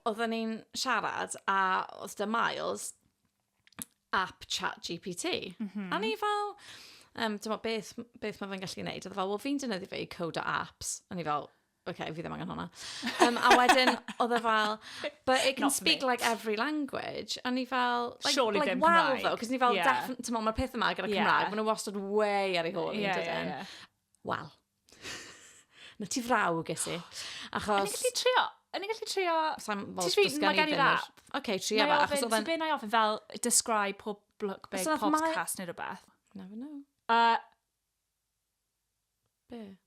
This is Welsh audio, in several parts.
oedden ni'n siarad a oedd da Miles app chat GPT. Mm -hmm. A ni fel, um, dyma beth, beth mae fe'n gallu gwneud. Oedd e fel, wel fi'n dynyddu fe i code o apps. A ni fel, oce, okay, fi ddim angen hwnna. Um, a wedyn, oedd e fel, but it can Not speak me. like every language. A ni fel, like, Surely like well though, cos ni fel, yeah. mae'r peth yma gyda Cymraeg, yeah. maen nhw wastad way ar ei hôl. Yeah, yeah, yeah. Wel. Na ti frawg, ges i. Achos... Yn i'n gallu trio? Yn i'n gallu trio... Sa'n fawr dysgu ni dyn nhw. Ok, trio fe. Achos oedd e'n... Ti'n ofyn fel, describe pob look big, pob cast neu rhywbeth? Never know. Uh, Be?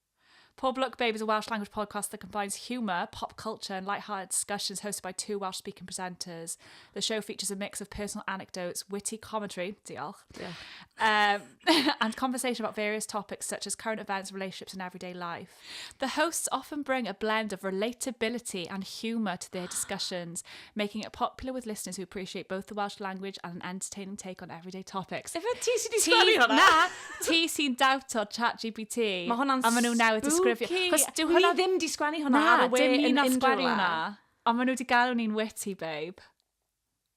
Pob Look Babe is a Welsh language podcast that combines humour, pop culture, and light-hearted discussions hosted by two Welsh-speaking presenters. The show features a mix of personal anecdotes, witty commentary, diolch, yeah. um, and conversation about various topics such as current events, relationships, and everyday life. The hosts often bring a blend of relatability and humour to their discussions, making it popular with listeners who appreciate both the Welsh language and an entertaining take on everyday topics. Efe ti sy'n di sgwennu hwnna? Na, ti sy'n dawto chat GPT. Mae hwnna'n A maen nhw newydd disgrifio. spooky. Chos dyw Ni hwnna ddim di sgwennu hwnna ar y we dim yn un o'r unrhyw sgwari le. hwnna. Ond maen nhw wedi galw ni'n witty, babe.